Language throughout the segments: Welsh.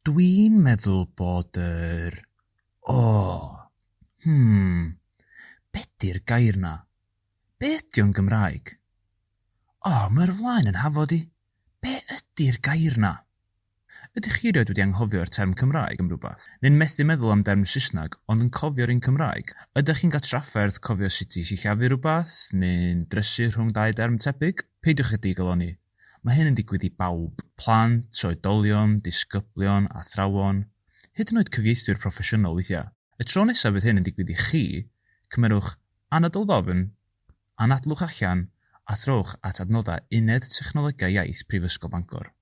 Dwi'n meddwl bod yr, o, hmm, be 'di'r gair 'na? Be ydi o'n Gymraeg? O, mae'r flaen yn hafod i. Be ydi'r gair 'na? Ydych chi erioed wedi anghofio'r term Cymraeg am rywbeth? Neu'n methu meddwl am derm Saesneg ond yn cofio'r un Cymraeg? Ydych chi'n cael trafferth cofio sut i sillafu rhywbeth, neu'n drysu rhwng dau derm tebyg? Peidiwch â digalonni, Mae hyn yn digwydd i bawb, plant, oedolion, disgyblion, athrawon, hyd yn oed cyfieithwyr proffesiynol weithiau. Y tro nesaf fydd hyn yn digwydd i chi, cymerwch anadl ddofn, anadlwch allan a throwch at adnoddau Uned Technolegau Iaith Prifysgol Bangor.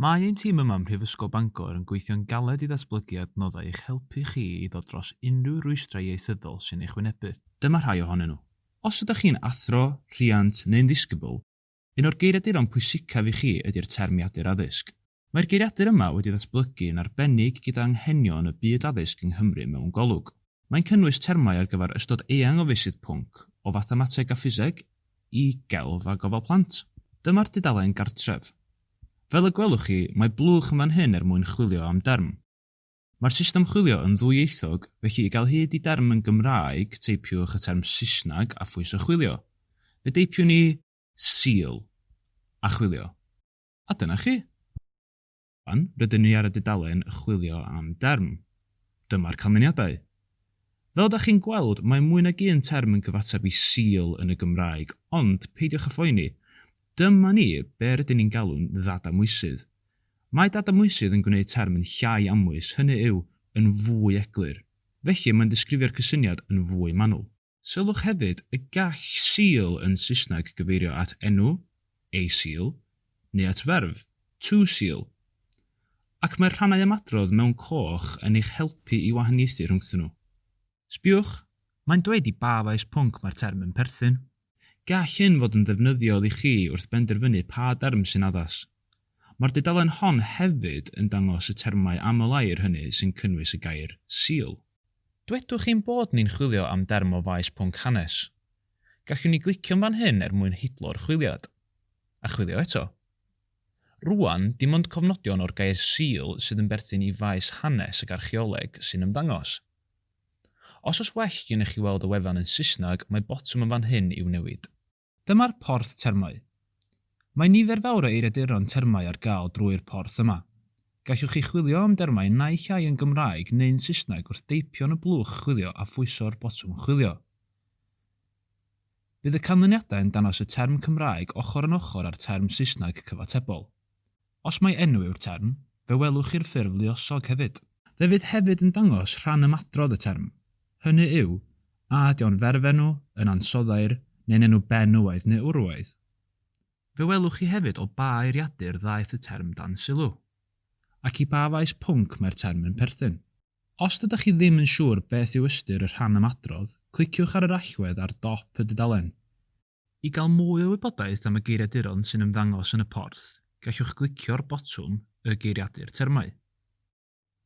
Mae ein tîm yma ym Mhrifysgol Bangor yn gweithio'n galed i ddatblygu adnoddau i'ch helpu chi i ddod dros unrhyw rwystrau ieithyddol sy'n eich wynebu. Dyma rhai ohonyn nhw. Os ydych chi'n athro, rhiant, neu'n ddisgybl, un o'r geiriaduron pwysicaf i chi ydy'r Termiadur Addysg. Mae'r geiriadur yma wedi ddatblygu yn arbennig gyda anghenion y byd addysg yng Nghymru mewn golwg. Mae'n cynnwys termau ar gyfer ystod eang o feysydd pwnc, o fathemateg a ffiseg, i gelf a gofal plant. Dyma'r dudalen gartref. Fel y gwelwch chi, mae blwch yn fan hyn er mwyn chwilio am derm. Mae'r system chwilio yn ddwyieithog, felly i gael hyd i derm yn Gymraeg, teipiwch y term Saesneg a phwyso chwilio. Fe deipiwn ni 'seal' a chwilio. A dyna chi. Rŵan, rydyn ni ar y dudalen 'chwilio am derm'. Dyma'r canlyniadau. Fel da chi'n gweld, mae mwy nag un term yn cyfateb i 'seal' yn y Gymraeg, ond, peidiwch â phoeni, Dyma ni, be rydyn ni'n galw'n ddadamwysydd. Mae dadamwysydd yn gwneud term yn llai amwys, hynny yw, yn fwy eglur. Felly, mae'n disgrifio'r cysyniad yn fwy manwl. Sylwch hefyd y gall seal yn Saesneg gyfeirio at enw, a seal, neu at ferf, to seal. Ac mae'r rhannau ymadrodd mewn coch yn eich helpu i wahaniaethu rhwngthyn nhw. Sbïwch, mae'n dweud i ba faes pwnc mae'r term yn perthyn. Gall hyn fod yn ddefnyddiol i chi wrth benderfynu pa derm sy'n addas. Mae'r dudalen hon hefyd yn dangos y termau aml-air hynny sy'n cynnwys y gair 'Sul'. Dwedwch ein bod ni'n chwilio am derm o faes pwnc hanes. Gallwn ni glicio'n fan hyn er mwyn hidlo'r chwiliad. A chwilio eto. Rŵan, dim ond cofnodion o'r gair 'Sul' sydd yn berthyn i faes hanes ac archeoleg sy'n ymddangos. Os oes well gennych chi weld y wefan yn Saesneg, mae botwm yn fan hyn i'w newid. Dyma'r porth termau. Mae nifer fawr o eiriaduron termau ar gael drwy'r porth yma. Gallwch chi chwilio am dermau naill ai yn Gymraeg neu'n Saesneg wrth deipio yn y blwch chwilio a phwyso'r botwm chwilio. Bydd y canlyniadau yn dangos y term Cymraeg ochr yn ochr â'r term Saesneg cyfatebol. Os mai enw yw'r term, fe welwch chi'r ffurf luosog hefyd. Fe fydd hefyd yn dangos rhan ymadrodd y term, hynny yw, a ydy o'n ferfenw, yn ansoddair, neu'n enw benywaidd neu urwaidd. Fe welwch chi hefyd o ba eiriadur ddaeth y term dan sylw, ac i ba faes pwnc mae'r term yn perthyn. Os ydych chi ddim yn siŵr beth yw ystyr y rhan ymadrodd, cliciwch ar yr allwedd ar dop y dudalen. I gael mwy o wybodaeth am y geiriaduron sy'n ymddangos yn y porth, gallwch glicio'r botwm Y Geiriadur Termau.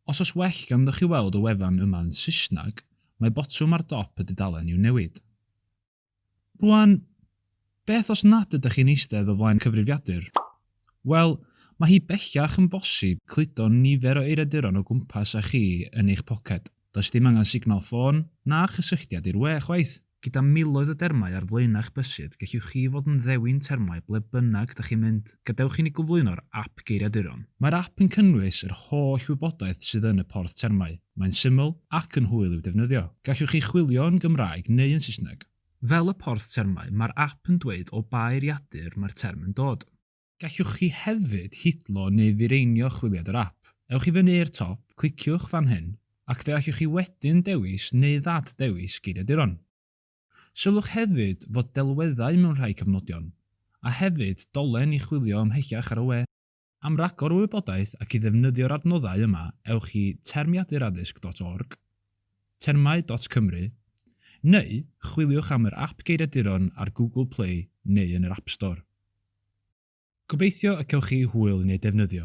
Os oes well ganddoch chi weld y wefan yma yn Saesneg, mae botwm ar dop y dudalen i'w newid. Rwan, beth os nad ydych chi'n eistedd o flaen cyfrifiadur? Wel, mae hi bellach yn bosib cludo nifer o eiriaduron o gwmpas â chi yn eich poced, does dim angen signal ffôn na chysylltiad i'r we chwaith! Gyda miloedd o dermau ar flaenau'ch bysydd, gellwch chi fod yn ddewin termau ble bynnag 'da chi'n mynd. Gadewch i ni gyflwyno'r ap geiriaduron. Mae'r ap yn cynnwys yr holl wybodaeth sydd yn y porth termau. Mae'n syml ac yn hwyl i'w defnyddio. Gallwch chi chwilio yn Gymraeg neu yn Saesneg. Fel y porth termau, mae'r ap yn dweud o ba eiriadur mae'r term yn dod. Gallwch chi hefyd hidlo neu fireinio chwiliad yr ap. Ewch i fyny i'r top, cliciwch fan hyn, ac fe allwch chi wedyn dewis neu ddad-ddewis geiriaduron. Sylwch hefyd fod delweddau mewn rhai cyfnodion, a hefyd dolen i chwilio ymhellach ar y we. Am ragor o wybodaeth ac i ddefnyddio'r adnoddau yma ewch i termiaduraddysg dot org, termau dot cymru, neu chwiliwch am yr ap geiriaduron ar Google Play neu yn yr App Store. Gobeithio y cewch chi hwyl yn ei defnyddio.